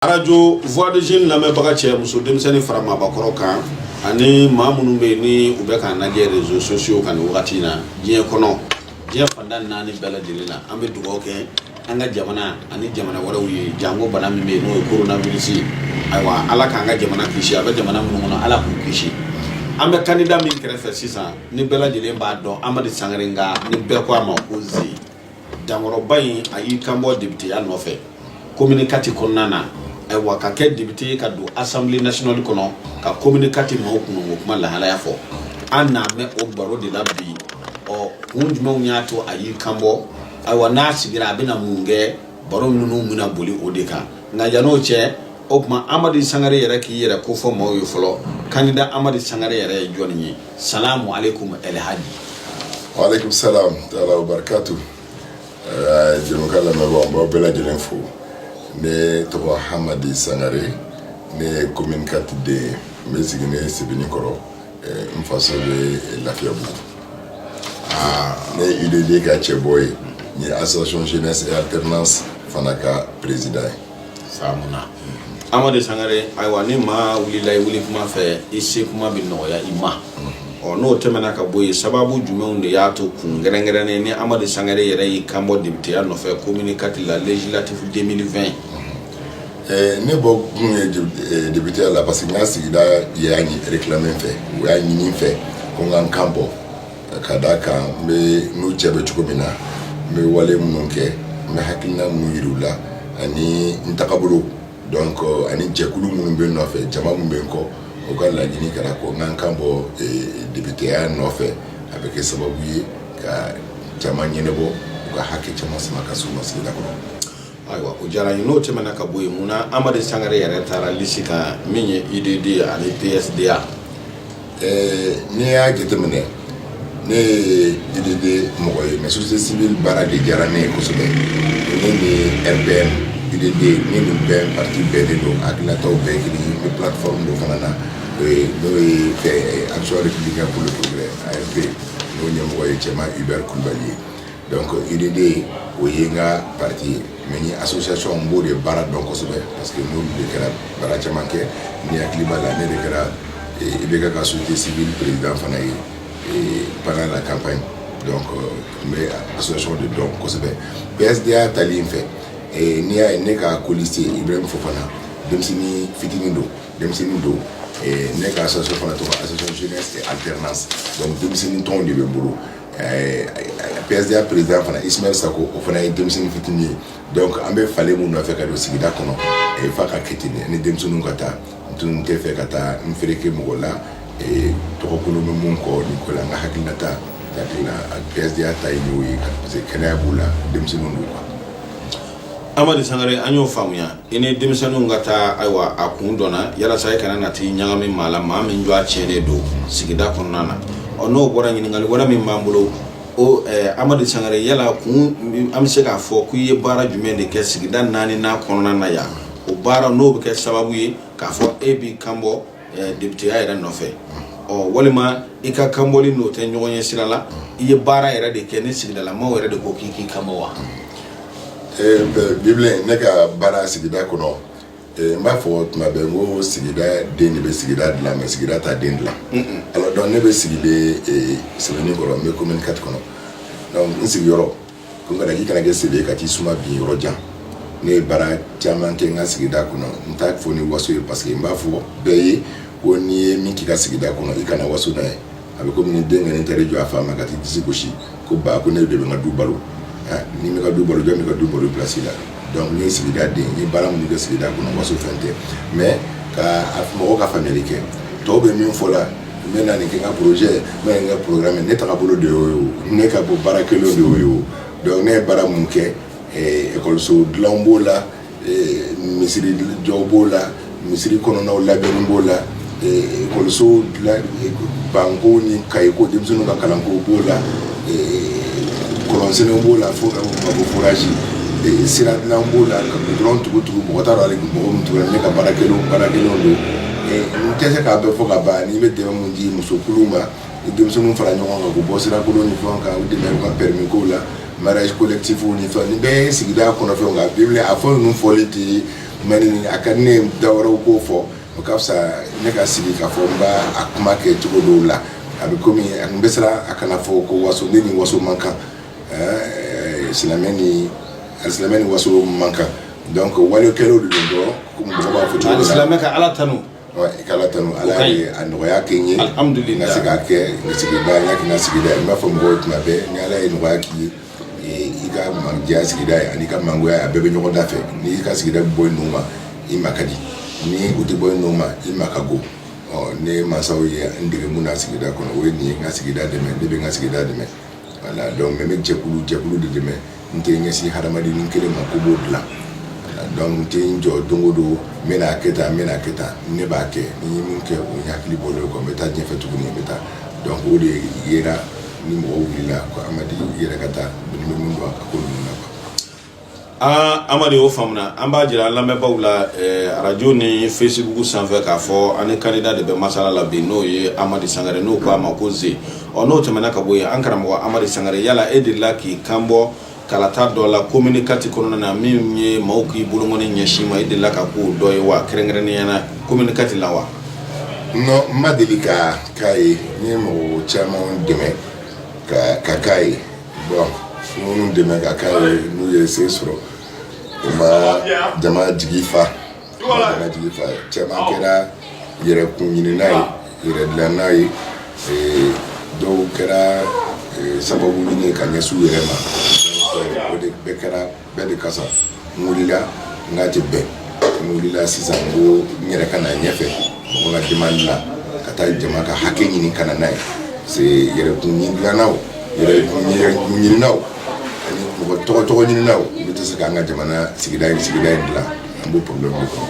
arajo voix des jeunes lamɛnbaga cɛ muso denmisɛnnin fara maabakɔrɔ kan ani maa minnu bɛ yen ni u bɛ k'an lajɛ rezo sosiyo kan nin wagati in na diɲɛ kɔnɔ diɲɛ fanda naani bɛɛ lajɛlen na an bɛ dugawu kɛ an ka jamana ani jamana wɛrɛw ye janko bana min bɛ yen n'o ye coronavirus ye ayiwa ala k'an ka jamana kisi a bɛ jamana minnu kɔnɔ ala k'u kisi an bɛ kandida min kɛrɛfɛ sisan ni bɛɛ lajɛlen b'a dɔn amadi sangare nka ni bɛɛ ko a ma ko ze dankɔrɔba in a y'i kan bɔ depiteya nɔfɛ komini kati kɔnɔna na ayiwa ka kɛ depite ye ka don asanbile nasinali kɔnɔ ka komini kati maaw kunko kuma lahalaya fɔ an n'a mɛn o baro de la bi ɔ kun jumɛnw y'a to a y'i kan bɔ ayiwa n'a sigira a bɛna mun kɛ baro ninnu bɛna boli o de kan nka yan'o cɛ o tuma amadi sangare yɛrɛ k'i yɛrɛ kofɔ maaw ye fɔlɔ kandida amadi sangare yɛrɛ ye jɔni ye salamu aleykum alhaji. wa aleykum salam taala wa barakatu eh, jɛmukan lamɛnbaaw n b'aw bɛɛ lajɛlen fo ne tɔgɔ hamadi sangare ne ye commune quatre den ye n bɛ siginen sebenikɔrɔ eh, n faso bɛ lafiyabugu ah. ne ye UDD ka cɛbɔ ye n ye association jeunesse et alternance fana ka président ye samu na amadi sangare ayiwa ni maa wulila i wuli kuma fɛ i se kuma bɛ nɔgɔya i ma ɔ n'o tɛmɛna ka bɔ yen sababu jumɛnw de y'a to kun kɛrɛnkɛrɛnnen ni amadi sangare yɛrɛ y'i kanbɔ depiteya nɔfɛ komini kati la législative 2020 ne bɔ kun ye depiteya la parce que n ka sigida y'a ɲi réclamer n fɛ u y'a ɲini n fɛ ko n ka n kan bɔ ka d' a kan ne n'u cɛ bɛ cogo min na n bɛ wale minnu kɛ n bɛ hakilina minnu yira u la ani n tagabolo dɔn kɔ ani jɛkulu minnu bɛ n nɔfɛ jama minnu bɛ n kɔ u ka laɲini kɛra ko n ka n kan bɔ depiteya nɔfɛ a bɛ kɛ sababu ye ka caman ɲɛnabɔ u ka hakɛ caman sama ka se u ma sigida kɔnɔ Ayiwa o diyara n ye n'o tɛmɛna ka bɔ yen mun na Amadi Sangare yɛrɛ taara liste kan min ye UDD ani PSDA ɛɛ n'i y'a jateminɛ ne ye UDD mɔgɔ ye mais société civile baara de diyara ne ye kosɛbɛ ne ni RPM UDD ne ni bɛɛ parti bɛɛ de don hakilinataw bɛɛ ye kelen ye n bɛ plateforme dɔ fana na o ye n'o ye ɛɛ Action républicaine pour le progrès ARP n'o ɲɛmɔgɔ ye Tiéman Hubert Kulibali ye Donc UDD o ye n ka parti ye mais ne association n b'o de baara dɔn kosɛbɛ parce que n' de kɛra baara caman kɛ n'i hakili b'a la ne de kɛra IBK ka société civile président fana ye pendant la campagne donc n bɛ association de dɔn kosɛbɛ PSDA tali in fɛ n'i y'a ye ne ka colistier Ibrahima fana denmisɛnnin fitinin don denmisɛnnin don ne ka sɔ fana tɔgɔ a sɔsɔ a tɛ denmisɛnnin tɔn de bɛ n bolo PSDA président fana Ismaël Sacko o fana ye denmisɛnnin fitinin ye donc an bɛ falen min nɔfɛ ka don sigida kɔnɔ a fa ka ki ni denmisɛnninw ka taa n tun t'a fɛ ka taa n fereke mɔgɔ la tɔgɔ kolon bɛ min kɔ nin ko la n ka hakilinata PSDA ta ye'o ye kɛnɛya b'u la denmisɛnninw don wa Amadi Sangare an y'o faamuya i ni denmisɛnninw ka taa ayiwa a kun dɔnna yalasa i kana na taa i ɲagami maa la maa min ju a cɛ de don sigida kɔnɔna na ɔ n'o bɔra ɲininkali wɛrɛ min b'an bolo Amadi Sangare yala kun an bɛ se k'a fɔ ko i ye baara jumɛn de kɛ sigida naaninan kɔnɔna na yan o baara n'o bɛ kɛ sababu ye k'a fɔ e b'i kanbɔ depiteya yɛrɛ nɔfɛ ɔ walima i ka kanbɔli n'o tɛ ɲɔgɔn ye sira la i ye baara yɛrɛ de kɛ ni sigidalamaw yɛrɛ de ko k'i k'i kanbɔ wa bibile ne ka baara sigida kɔnɔ n b'a fɔ tuma bɛ n ko sigida den de bɛ sigida dilan mɛ sigida tɛ den dilan alors donc ne bɛ sigilen Sebeninkɔrɔ n bɛ commune quatre kɔnɔ n sigiyɔrɔ Ko kana k'i kana kɛ se ka t'i suma bi yɔrɔ jan ne ye baara caman kɛ n ka sigida kɔnɔ n t'a fɔ ni waso ye parce que n b'a fɔ bɛɛ ye ko n'i ye min k'i ka sigida kɔnɔ i kana waso n'a ye a bɛ kɔmi denkɛ taa jɔ a fa ma ka t'i disi gosi ko ba ko ne de bɛ ka du balo n'i tɛ ka du balo jɔn bɛ ka du balo i place la donc ni sigida den ye baara min kɛ sigida kɔnɔ waso fɛn tɛ mɛ ka mɔgɔw ka fanli kɛ tɔw bɛ min fɔ la n bɛ na nin kɛ n ka projet n bɛ nin kɛ programme ne tagabolo de y'o ye o ne ka bolo baara kɛlen de y'o ye o donc ne ye baara mun kɛ ekɔliso eh, dilanw b'o la eh, misiri jɔw b'o la misiri kɔnɔnaw labɛnni b'o la ekɔliso eh, banko ni kayeko denmisɛnninw ka kalanko b'o la kɔlɔnsenw b'o la fo ka bɔ forage sira dilan b'o la ka gudɔrɔn tugu tugu mɔgɔ t'a dɔn hali mɔgɔ min tugura ne ka baara kɛlenw baara kɛlenw don n tɛ se k'a bɛɛ fɔ ka ban ne bɛ dɛmɛ min di musokuluw ma ni denmisɛnninw fara ɲɔgɔn kan k'u bɔ sirakolon ni fɛnw kan u dɛmɛ u ka permis kow la mariage collectif ni fɛnw nin bɛɛ ye sigida kɔnɔfɛnw nka bi wuli a fɔ ninnu fɔli tɛ mɛ nin a ka di ne ye da wɛrɛw k'o fɔ o ka fisa ne ka sigi k'a fɔ n b'a a kuma kɛ cogo dɔw la a bɛ komi a tun bɛ siran a kana fɔ ko waso ne ni waso man kan silamɛ ni silamɛ ni waso man kan Donc ko wale kɛlen dɔrɔn silamɛ ka ala tanu ala tanu ala y'a nɔgɔya kɛ ye ka se ka kɛ sigida sigida i b'a fɔ mɔgɔw tuma bɛɛ ni ala ye nɔgɔya k'i ye i ka mandiya sigida ye ani i ka mangoya a bɛɛ bɛ ɲɔgɔn da fɛ n'i ka sigida bɔ i nun ma i ma ka di ni u tɛ bɔ i nun ma i ma ka go ne mansaw ye n dege na sigida kɔnɔ o ye nin n ka sigida dɛmɛ ne bɛ n ka sigida dɛmɛ Voilà donc n bɛ jɛkulu jɛkulu de dɛmɛ n tɛ n ɲɛsin hadamadennin kelen ma ko n b'o dilan donc n tɛ n jɔ don o don n bɛna a kɛ tan n bɛna a kɛ tan ne b'a kɛ ni n ye min kɛ o n hakili bɔlen don o kan n bɛ taa ɲɛfɛ tuguni n bɛ taa donc o de yera ni mɔgɔw wulila ko Amadi i yɛrɛ ka taa ko nin bɛ min dɔn a ko ninnu na quoi an amadi o faamuna an b'a jira an lamɛnbaaw la eh, arajo ni fesibugu sanfɛ k'a fɔ an ni kandida de bɛ masala la bi n'o ye amadi sangare n'u ko a ma ko ze ɔ n'o tɛmɛna ka bɔ yen an karamɔgɔ amadi sangare yala e delila k'i kan bɔ kalata dɔ la komini kati kɔnɔna na min ye maaw k'i bolokɔni ɲɛsin ma e delila ka k'o dɔ ye wa kɛrɛnkɛrɛnnenya na komini kati la wa non n ma deli ka k'a ye n ye mɔgɔ caman dɛmɛ ka ka k'a ye Bon minnu dɛmɛ ka k'a ye n'u ye se sɔrɔ u ma jama jigi fa jama jigi fa caman kɛra yɛrɛ kun ɲinina ye yɛrɛ dilanna ye dɔw kɛra sababu ɲini ka ɲɛsin u yɛrɛ ma o de bɛɛ kɛra bɛɛ de kosɔn n wulila n k'a tɛ bɛn n wulila sisan ko n yɛrɛ ka na ɲɛfɛ mɔgɔ ka demande la ka taa jama ka hakɛ ɲini ka na n'a ye se yɛrɛkun ɲinilanaw yɛrɛkun ɲininaw ani mɔgɔ tɔgɔ tɔgɔ ɲininaw olu tɛ se k'an ka jamana sigida in sigida in dilan an b'o problème de kɔnɔ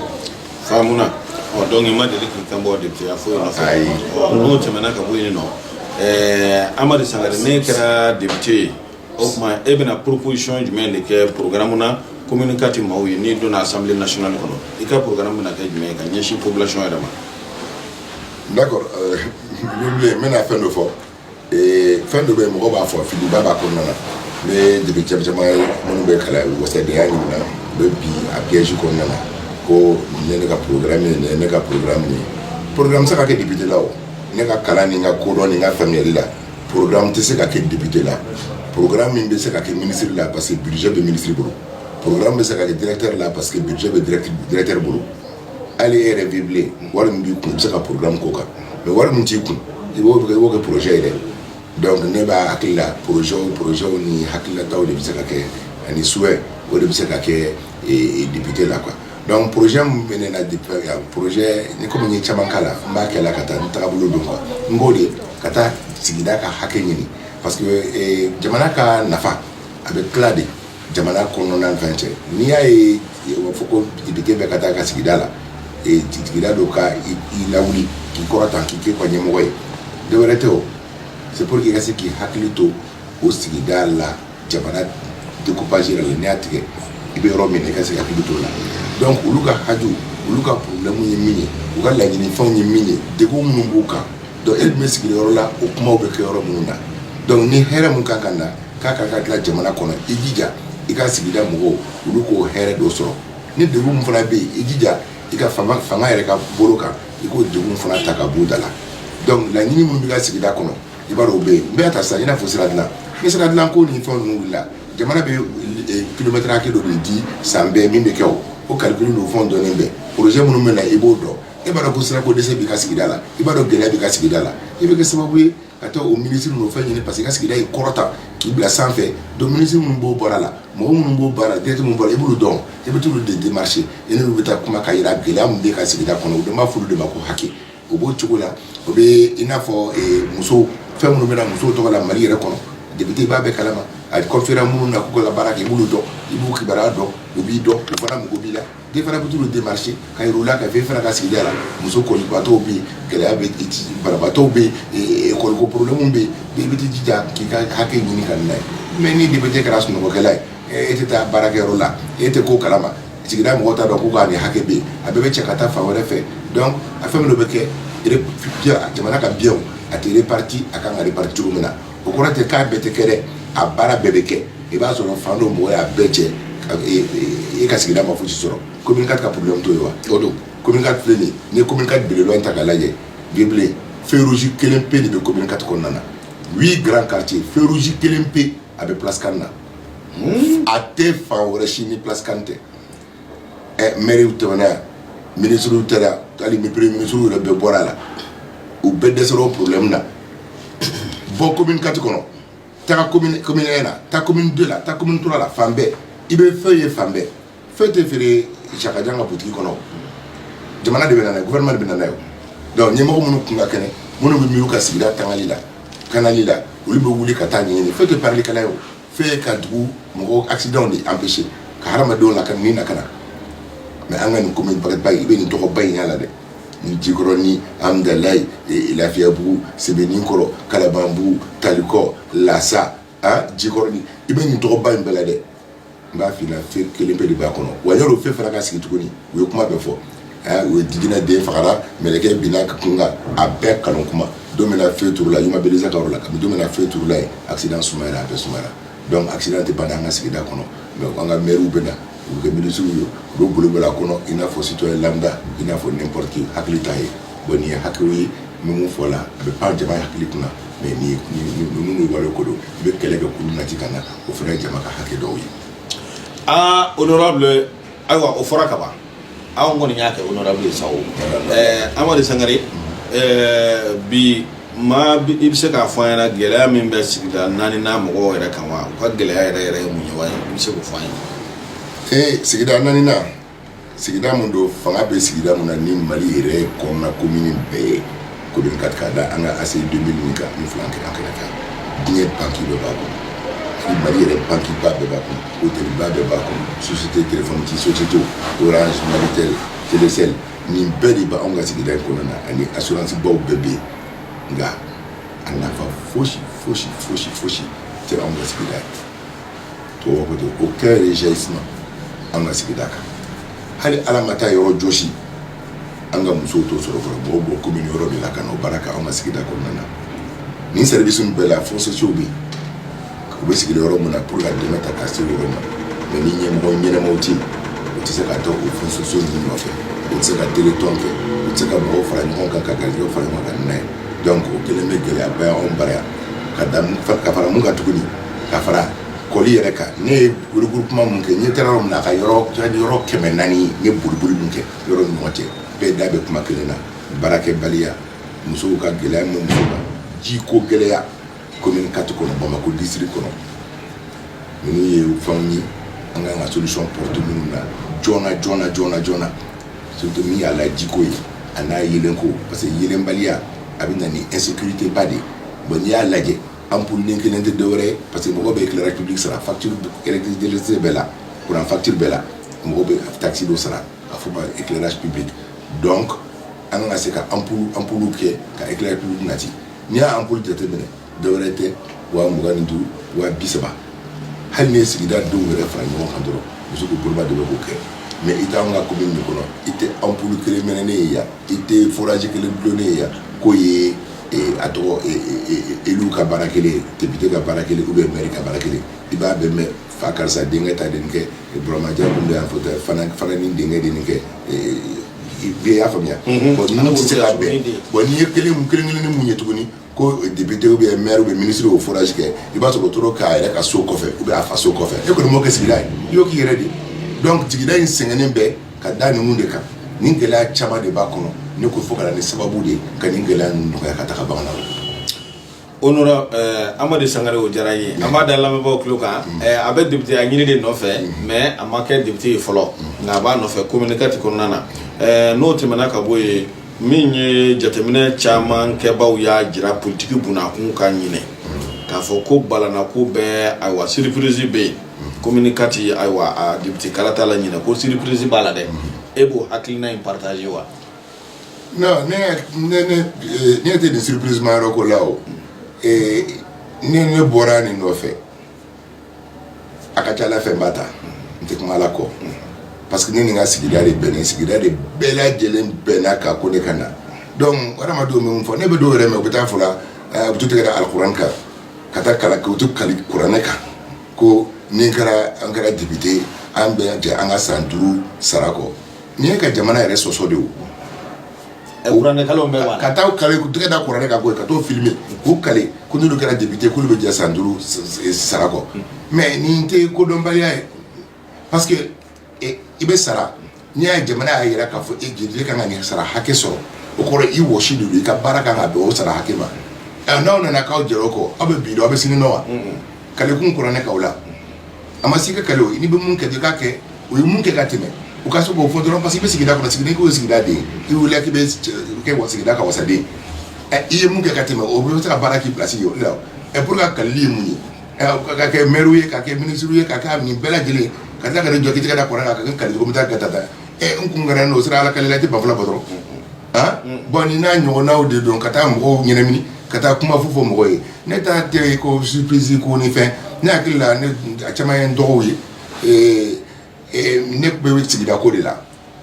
faamuna ɔ donc i ma deli k'i kan bɔ deputeya foyi nɔfɛ ayi n'o tɛmɛna ka bɔ yen nɔ ɛɛ amadi sangare n'e kɛra depute ye O tuma e bɛna poroposiyɔn jumɛn de kɛ programme na komini kati maaw ye n'i donna assemblée nationale kɔnɔ i ka programme bɛna kɛ jumɛn ye ka ɲɛsin population yɛrɛ ma n d'accord n bɛna fɛn dɔ fɔ fɛn dɔ bɛ yen mɔgɔ b'a fɔ fili ba b'a kɔnɔna na n ye député caman ye minnu bɛ kalan u wasadenya ɲini na u b'a bila affiche kɔnɔna na ko ne ne ka programme nin ye ne ka programme nin ye programme bɛ se ka kɛ député la o ne ka kalan ni n ka kodɔn ni n ka faamuya la Pkan tɛ se ka kɛ dibite la pkan min bɛ se ka kɛ minisiriri la parce que bisi bɛ minisiri bolo pkan bɛ se ka kɛɛrɛ la parce que bɛ dɛrɛɛrɛ bolo ale yɛrɛ b'i bilen wari b'i kun bɛ se ka pkan ko kan mɛ wari min t'i kun i b'o kɛ b'o kɛ pjɛ yɛrɛ dɔnku ne b'a hakili la pz pzw ni hakilila de bɛ se ka kɛ ani su o de bɛ se ka kɛ dibite la kuwa Donc projet min bɛ ne na depuis yan projet ni komi n ye caman k'a la n b'a kɛla ka taa ni tagabolo don quoi n b'o de ka taa sigida ka hakɛ ɲini parce que ee jamana ka nafa a bɛ tila de jamana kɔnɔna fɛn cɛ n'i y'a ye u b'a fɔ ko député bɛɛ ka taa a ka sigida la ee sigida dɔ ka i lawuli k'i kɔrɔta k'i kɛ a ka ɲɛmɔgɔ ye dɔwɛrɛ tɛ o c'est pour que i ka se k'i hakili to o sigida la jamana découpage yɛrɛ la n'i y'a tigɛ i bɛ yɔrɔ min na i ka se ka hakili t'o la donc olu ka haju olu ka problème ye min ye u ka laɲini fɛnw ye min ye degun minnu b'u kan donc e dun bɛ sigi yɔrɔ la o kumaw bɛ kɛ yɔrɔ minnu na donc ni hɛrɛ min kan ka na k'a ka ka dilan jamana kɔnɔ i jija i ka sigida mɔgɔw olu k'o hɛrɛ dɔ sɔrɔ ni degun min fana bɛ yen i jija i ka fanga fanga yɛrɛ ka bolo kan i k'o degun fana ta ka b'u da la donc laɲini minnu b'i ka sigida kɔnɔ i b'a dɔn o bɛ yen n b'a ta sisan i n'a fɔ sira dilan ni sira dilan ko ni fɛn ninnu wulila jamana bɛ kilomɛtɛrɛ hakɛ dɔ de di san bɛɛ min bɛ kɛ o o calcul don fɛnw dɔnnen bɛ projet minnu bɛ na i b'o dɔn e b'a dɔn ko sirako dɛsɛ b'i ka sigida la i b'a dɔn gɛlɛya b'i ka sigida la i bɛ kɛ sababu ye ka taa o minisiri ninnu fɛn ɲini parce que i ka sigida y'i kɔrɔta k'i bila sanfɛ donc minisiri minnu b'o baara la mɔgɔ minnu b'o baara la directeur minnu b'o la i b'olu dɔn i bɛ t'olu de démarcher i n'olu bɛ taa kuma ka yira gɛlɛya min b'i ka sigida kɔnɔ u bɛ b'a fɔ olu de ma ko hakɛ O b'o cogo la o bɛ i n'a fɔ muso fɛn minnu bɛ muso tɔgɔ la mali yɛrɛ kɔnɔ député b'a bɛɛ kalama a confiéra minnu na k'u ka baarakɛbolo dɔn i b'u kibaruya dɔn u b'i dɔn u fana mɔgɔw b'i la e fana bɛ t'u démarcher ka u la ko e fana ka sigida la muso kɔlibaatɔ bɛ yen gɛlɛya bɛ banabaatɔ bɛ kɔlɔnko problème bɛ député jija k'i ka hakɛ ɲini ka na ye mais ni député kɛra sunɔgɔkɛla ye e tɛ taa baarakɛyɔrɔ la e tɛ ko kalama sigida mɔgɔ t'a dɔn ko k'a ni hakɛ bɛ a bɛɛ bɛ cɛ ka taa fan wɛrɛ fɛ donc fɛn minnu bɛ kɛ jamana ka biens a tɛ répartir a kan ka répartir cogo min na o kɔrɔ tɛ k'a bɛɛ tɛ kɛ dɛ a baara bɛɛ bɛ kɛ i b'a sɔrɔ fan dɔ mɔgɔ y'a bɛɛ cɛ e ka sigida ma fosi sɔrɔ komi ka ka problème to ye wa o don commune quatre filɛ nin ye commune quatre belebeleba ta k'a lajɛ bi bi in na feu rouge kelen pe de bɛ commune quatre kɔnɔna na huit grand quartiers feu rouge kelen pe a bɛ place CAN na a tɛ fan wɛrɛ si ni plaskan tɛ ɛ mriw tɛm yan miniuru taara hali mib misiw yɛrɛ bɛɛ bɔra a la u bɛɛ dɛsɛsɔrɔ o porolenmi na bɔ kɔmi kati kɔnɔ taa na taa don la taa kɔmi tora la fan bɛɛ i bɛ fɛn ye fan bɛɛ Feu tɛ feere sakajan ka butigi kɔnɔ jamana de bɛ na n'a ye maire de bɛ na n'a ye donc ni mɔgɔ minnu kun ka kɛnɛ minnu bɛ u ka sigida tangali lakanali la olu bɛ wuli ka t'a ɲini feu tɛ pakɛla ye feu ka dugu mɔgɔw accident bɛ se ka hadamadenw lakana min na ka na mais an ka nin commune baba i bɛ nin tɔgɔba in bɛɛ lajɛ ni jikɔrɔni hamudalayi lafiyabugu sebeninkɔrɔ kalabanbugu taliko la aa jikɔrɔni i bɛ nin tɔgɔba in bɛɛ lajɛ n b'a f'i ɲɛna feu kelen pe de b'a kɔnɔ wa yani o feu fana ka sigi tuguni u ye kuma bɛɛ fɔ aa u ye jinɛ den fagara mɛlɛkɛ binna a kun kan a bɛɛ nkalon kuma don min na feu turula Yuma Beleza ka yɔrɔ la kabini don min na feu turula yen accident sumayara a bɛɛ sumayara donc accident tɛ ban an ka sigida kɔnɔ mais an ka maires bɛ na u bɛ kɛ ministres ye u bɛ boli boli a kɔnɔ i n'a fɔ citoyen lambda i n'a fɔ n'importe qui hakili t'a ye bon nin ye hakiliw ye Numu fɔ la a bɛ pan jama hakili kunna mɛ ninnu wale ko don i bɛ éclairage public nati ka na o fana ye jama ka hakɛ dɔw ye aa honorable ayiwa o fɔra kaban anw kɔni y'a kɛ honorable ye sa amadu sangare bi maa i bɛ se k'a fɔ an ɲɛna gɛlɛya min bɛ sigida naani n'a mɔgɔ yɛrɛ kan wa u ka gɛlɛya yɛrɛ yɛrɛ ye mun ye wa i bɛ se k' fɔ an ye ee sigida naani sigida min don fanga bɛ sigida min na ni mali yɛrɛ kɔnɔna komini bɛɛ ye ko ka ka da an ka ACI deux mille kan ni filan kira kɛnɛ kan diɲɛ banki dɔ b'a kɔnɔ ni mali yɛrɛ banki ba bɛɛ b'a kɔnɔ otɛliba bɛɛ b'a kɔnɔ société tɛ ci société orange malitel telecel nin bɛɛ de b' anw ka sigida in kɔnɔna na ani asuransibaw bɛɛ bɛ yen nka a nafa fosi fosi fosi fosi tɛ anw ka sigida ye tubabu ko ten ko kɛ de jaisme an ka sigida kan hali ala ma taa yɔrɔ jɔsi an ka musow t'o sɔrɔ fɔlɔ mɔgɔw bɔ komini wɛrɛ de la ka na o baara kɛ an ka sigida kɔnɔna na nin service ninnu bɛɛ la fonds sociaux bɛ yen u bɛ sigida yɔrɔ min na pour ka dɛmɛ ta ka se yɔrɔ ma mɛ ni ɲɛmɔgɔ ɲɛnamaw tɛ yen u tɛ se ka taa o fonds sociaux ninnu nɔfɛ u tɛ se ka deli tɔn kɛ u tɛ se ka mɔgɔw fara ɲɔgɔn kan ka garijɛw fara ɲɔgɔn kan n'a ye donc o kelen bɛ gɛlɛyaba ye anw bara yan ka da ka fara mun kan tuguni ka fara kɔli yɛrɛ kan ne ye regroupement min kɛ ne taara yɔrɔ min na a ka yɔrɔ yɔrɔ kɛmɛ naani ne boliboli min kɛ yɔrɔ ni ɲɔgɔn cɛ bɛɛ da bɛ kuma kelen na baarakɛbaliya musow ka gɛlɛya min muso kan jiko gɛlɛya commune quatre kɔnɔ bamakɔ district kɔnɔ ninnu ye fɛnw ye an ka kan ka solution porter minnu na joona joona joona joona surtout min y'a la jiko ye ani yeelenko parce que yeelenbaliya a bɛ na ni insécurité ba de ye bon n'i y'a lajɛ Ampoule den kelen tɛ dɔwɛrɛ parce que mɔgɔ bɛ éclairage public sara facture kɛlɛse bɛɛ la kuran facture bɛɛ la mɔgɔ bɛ taxe dɔ sara a fɔ éclairage public donc an ka se ka ampoule ampoule kɛ ka éclairage public nati n'i y'an bolo jate minɛ dɔwɛrɛ tɛ waa mugan ni duuru wa bi saba hali ye sigida denw yɛrɛ fara ɲɔgɔn kan dɔrɔn muso boloba de b'o kɛ mɛ i t'an ka commune kɔnɔ i tɛ ampoule kelen mɛnɛnen ye yan i tɛ fili kelen dulonnen ye yan ko ye a tɔgɔ élu ka baara kɛlen député ka baara kɛlen ou bien mairie ka baara kɛlen i b'a bɛ mɛn fa karisa denkɛ ta den kɛ buramajɛ min bɛ fɔ fana ni denkɛ de kɛ bɛɛ y'a faamuya bɔn se ka bɛn bɔn n'i ye kelen kelen ni mun ye tuguni ko député bɛ maire bɛ minisiri o fɔraji kɛ i b'a sɔrɔ taara k'a yɛrɛ ka so kɔfɛ ou bien a fa so kɔfɛ e kɔni m'o kɛ sigida ye i y'o k'i yɛrɛ de donc sigida in sɛgɛnnen bɛ ka da ninnu de kan nin gɛlɛya caman de b'a kɔnɔ ne ko fo ka na ni sababu de ye ka nin gɛlɛya ninnu nɔgɔya ka taga bangana onora eh, amadu sangare o diyara an ye an b'a da lamɛnbaaw tulo kan mm. eh, a bɛ depiteya ɲini de nɔfɛ mm. mɛ a ma kɛ depite ye fɔlɔ mm. nka a b'a nɔfɛ komini kati kɔnɔna na eh, n'o tɛmɛna ka bɔ yen min ye jateminɛ caman kɛbaaw y'a jira politiki bunda kunkan ɲinan k'a fɔ ko balanako bɛ ayiwa surprise bɛ yen Komini kati ayiwa depite kalata la ɲinan ko surprise b'a la dɛ e b'o hakilina in partager wa ne tɛ nin surprise ma yɔrɔ ko la o ne ne bɔra nin nɔfɛ a ka ca ala fɛn ba ta n tɛ kuma ala kɔ parce que ne ni n ka sigida de bɛn nin sigida de bɛɛ lajɛlen bɛnna n ka ko de kan donc adamadenw min fɔ ne bɛ dɔw yɛrɛ mɛn u bɛ taa fɔ u b'u tɛgɛ da alikuranɛ kan ka taa kali kɛ u tɛ kali kuranɛ kan ko ni kɛra an kɛra depite an bɛ jɛ an ka san duuru sara kɔ nin ye ka jamana yɛrɛ sɔsɔ de o ka taa kali tɛgɛ da kuranɛ kan ka taa filmer k'u kali ko n'olu kɛra depite k'olu bɛ jɛ san duuru sara kɔ mɛ nin tɛ kodɔnbaliya ye parce que i bɛ sara n'i y'a jamana y'a jira k'a fɔ e jeli ka kan ka sara hakɛ sɔrɔ o kɔrɔ i wa si i ka baara kan ka dugawu o sara hakɛ ma n'aw nana k'aw jɛ kɔ aw bɛ bi aw bɛ sini nɔ wa kalikun kɔrɔ nekaw la a ma se ka kali i bɛ mun kɛ i ka kɛ u ye mun kɛ ka tɛmɛ u ka se k'o fɔ dɔrɔn parce que i bɛ sigida kɔnɔ sigi k'u sigidaden i wili k'i bɛ kɛ wa sigida ka wasaden i ye mun kɛ ka tɛmɛ o bɛ se ka baara kɛ i place o la ɛ bolo ka kalili ye mun ye Ka kɛ mɛriw ye ka kɛ minisiriw ye ka kɛ nin bɛɛ lajɛlen ka ka nin jɔkɛ da kɔrɔ la ka kali bɛ taa gata da ɛ n kun kɛra n'o sera ala kalilala tɛ banfula bɔ dɔrɔn aa bɔn ni n'a ɲɔgɔn n'aw de don ka taa mɔgɔw ɲɛnamini ka taa kuma fu fɔ mɔgɔ ye ne ta tɛ ko surprise ko nin fɛn ne hakili la caman ye n dɔgɔw ye ne bɛ sigida ko de la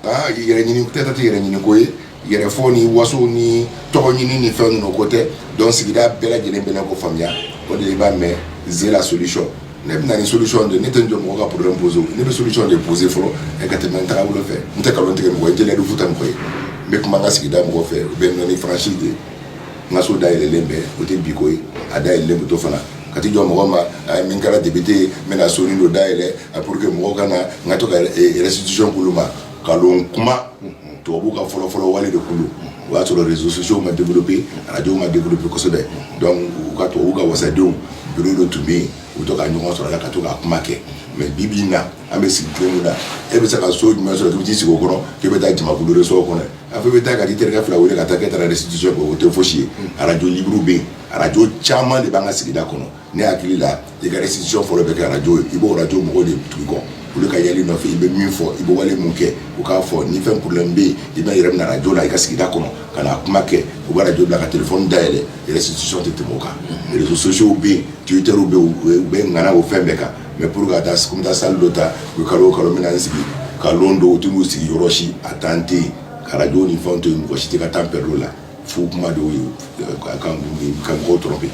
aa yɛrɛ ɲini peut-être a tɛ yɛrɛ ɲini ko ye, yɛrɛ fɔ ni waso ni tɔgɔ ɲini ni fɛn ninnu o ko tɛ donc sigida bɛɛ lajɛlen bɛna o ko faamuya o de la i b'a mɛn c'est la solution ne bɛ na ni solution de ye ne tɛ n jɔ mɔgɔ ka problème poser la ne bɛ solution de poser fɔlɔ ka tɛmɛ n tagabolo fɛ n tɛ nkalon tigɛ mɔgɔ ye jeliya bɛ fɔ tan de koyi n bɛ kuma n ka sigida mɔgɔw fɛ ou bien n bɛ na ni franchise de ye N ka so da yɛlɛlen bɛ o tɛ bi ko ye a da yɛlɛlen bɛ to fana ka tɛ jɔ mɔgɔ ma a ye min kɛra depite ye n bɛna so nin da yɛlɛ a pour que mɔgɔw ka na n ka to ka yɛrɛsitykulu ma ka kuma tubabubu ka fɔlɔfɔlɔ wale de kulu o y'a sɔrɔ réseaux sociaux ma développer arajow ma développer kosɛbɛ u ka tubabubu ka wadenw bi don tun bɛ yen u bɛ to ka ɲɔgɔn sɔrɔ la ka to k ka kuma kɛ mɛ bibi na an bɛ sigi cogo min na e bɛ se ka so jumɛn sɔrɔ k'i t'i sigi o kɔrɔ k'i bɛ taa jamakulu de sɔrɔ o kɔnɔ a fɔ i bɛ taa ka t'i terikɛ fila wele ka taa k'e taara restitution kɛ o tɛ fosi ye arajo liburu bɛ yen arajo caman de b'an ka sigida kɔnɔ ne hakili la i ka restitution fɔlɔ bɛ kɛ arajo ye i b'o arajo mɔgɔw de tugu i kɔ olu ka yaala i nɔfɛ i bɛ min fɔ i bɛ wale min kɛ u k'a fɔ ni fɛn problème bɛ yen i bɛ lɛrɛ minɛ arajo la i ka sigida kɔnɔ ka na kuma kɛ u bɛ arajo bila ka telefɔni dayɛlɛ restitution tɛ tɛmɛ o kan réseaux sociaux bɛ yen twitter bɛ yen u bɛ ŋana o fɛn bɛɛ kan mais pour ka taa sunta salle dɔ ta u kalo kalo min sigi ka don tun sigi yɔrɔsi a tan tɛ kaj ni fɛn to yen mɔgɔ si tɛ ka tan bɛɛdo la fo kuma dɔw ye mɔgɔw dɔrɔn bɛ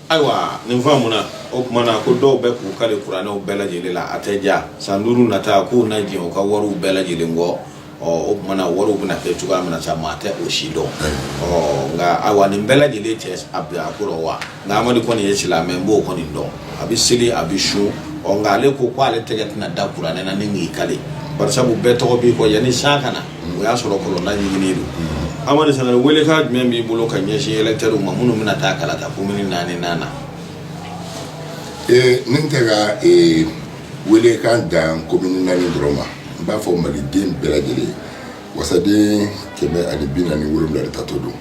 ayiwa nin fɔ mun o tuma na ko dɔw bɛ k'u kale kuranɛw bɛɛ lajɛlen la a tɛ ja san duuru nata k'u na jɛ u ka wariw bɛɛ lajɛlen kɔ ɔ o tumana wariw bɛna kɛ cogoya min na sa maa tɛ o si dɔn ɔ nka ayiwa nin bɛɛ lajɛlen cɛ a bila a kɔrɔ wa nka amadu kɔni ye silamɛ n b'o kɔni dɔn a bɛ seli a bɛ sun ɔ nka ale ko ko ale tɛgɛ tɛna da kuranɛ na ni k'i kale barisabu bɛɛ tɔgɔ b'i kɔ yanni san ka na o y'a sɔrɔ kɔlɔnlaji minnen don amadu sangare welekan jumɛn b'i bolo ka ɲɛsin ɛlɛtɛriw ma minnu bɛna taa kalata komini naani na na ee ne tɛ ka ee welekan dan commune naani dɔrɔn ma n b'a fɔ maliden bɛɛ lajɛlen ye wasaden kɛmɛ ani bi naani ni wolonwula de tatɔ don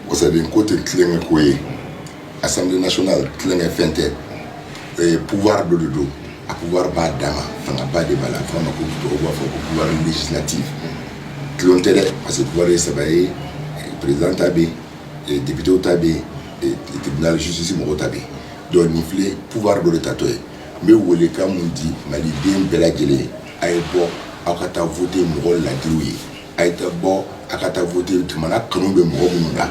wasaden ko tɛ tulonkɛ ko ye assemblée nationale tulonkɛ fɛn tɛ ee, pouvoir dɔ de don a pouvoir b'a dan ma fangaba de b'a la fɔ ma ko dɔw b'a fɔ ko pouvoir législatif tulon tɛ dɛ parce que pouvoir ye saba ye président ta bɛ yen député ta bɛ yen tribunal justice mɔgɔw ta bɛ yen donc nin filɛ pouvoir dɔ de tatɔ ye n bɛ welekan min di maliden bɛɛ lajɛlen ye a ye bɔ aw ka taa vote mɔgɔ ladiriw ye a ye taa bɔ a ka taa vote jamana kanu bɛ mɔgɔ minnu na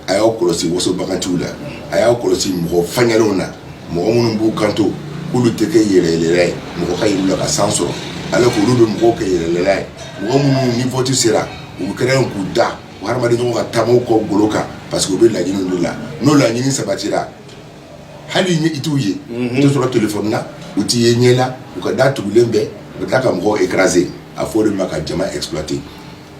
a y'aw kɔlɔsi wasobaganciw la a y'aw kɔlɔsi mɔgɔ faɲɛlenw na mɔgɔ minnu b'u kanto k'olu tɛ kɛ yɛlɛnyɛlɛnna ye mɔgɔ ka yɛlɛn a la ka san sɔrɔ alors k'olu bɛ mɔgɔw kɛ yɛlɛnyɛlɛnna ye mɔgɔ minnu ni vote sera u kɛra yen k'u da u hadamadenɲɔgɔn ka taama u kɔgolo kan parce que u bɛ laɲini de la n'o laɲini sabatira hali ɲɛ i t'u ye i t'u sɔrɔ telefɔni na u t'i ye ɲɛ la u ka da tugulen bɛ u bɛ tila ka mɔgɔw écraser a bɛ fɔ o de ma ka jama exploiter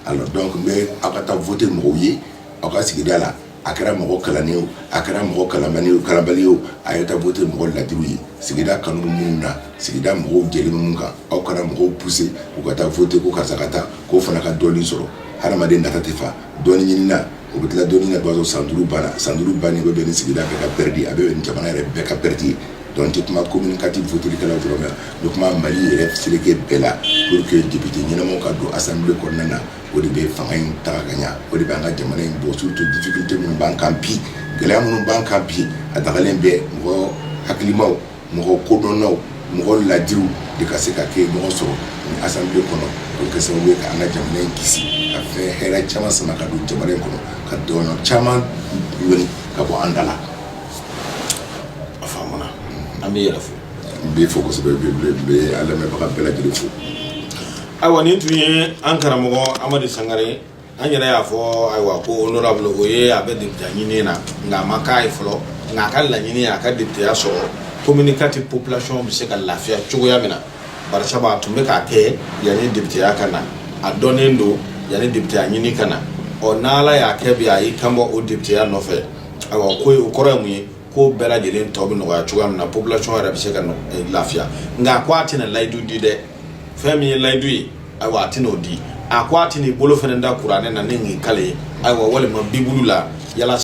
alors donc n bɛ aw ka taa voter mɔgɔw ye aw ka sigida la a kɛra mɔgɔ kalannen ye o a kɛra mɔgɔ kalanbali ye o kalanbali ye o a ye taa voter mɔgɔ ladiriw ye sigida kanu bɛ minnu na sigida mɔgɔw jɛlen bɛ minnu kan aw kana mɔgɔw pousser u ka taa voter ko karisa ka taa k'o fana ka dɔɔnin sɔrɔ hadamaden nata tɛ fa dɔɔnin ɲinina o bɛ tila dɔɔnin na bawo san duuru banna san duuru banni bɛ bɛn ni sigida bɛɛ ka pɛridi a bɛ bɛn ni jamana yɛrɛ bɛɛ ka pɛridi ye donc n tɛ kuma commune quatre votelikɛlaw dɔrɔn na n bɛ kuma mali yɛrɛ seleke bɛɛ la pour que député ɲɛnamaw ka don assemblée kɔnɔna na o de bɛ fanga in taga ka ɲa o de bɛ an ka jamana in bɔ surtout difficulté minnu b'an kan bi gɛlɛya minnu b'an kan bi a dagalen bɛ mɔgɔ hakilimaw mɔgɔ kodɔnnaw mɔgɔ ladiriw de ka se ka kɛ ɲɔgɔn sɔrɔ ni assemblée kɔnɔ o bɛ kɛ sababu ye ka an ka jamana in kisi ka fɛn hɛrɛ caman sama ka don jamana in kɔnɔ ka dɔnniya caman ɲini ka bɔ an da la a faamuna an bɛ yɛrɛ fo n b'i fo kosɛbɛ n bɛ n bɛ n bɛ a lamɛnbaga bɛɛ lajɛlen fo ayiwa nin tun ye an karamɔgɔ amadu sangare an yɛrɛ y'a fɔ ayiwa ko honorable o ye a bɛ deputeya ɲini na nka a ma k'a ye fɔlɔ nka a ka laɲini a ka deputeya sɔrɔ commune kati population bɛ se ka lafiya cogoya min na barisabu a tun bɛ k'a kɛ yanni deputeya ka na a dɔnnen don yanni deputeya ɲini ka na ɔ n'ala y'a kɛ bi a y'i kanbɔ o deputeya nɔfɛ ayiwa ko o kɔrɔ ye mun ye ko bɛɛ lajɛlen tɔ bɛ nɔgɔya cogoya min na population yɛrɛ bɛ se ka lafiya nka ko a tɛna layidu di dɛ fɛn min ye layidu ye ayiwa a tɛn'o di a ko a tɛn'i bolo fana da kuranɛ na ni nin kali ye ayiwa walima bibulu la yala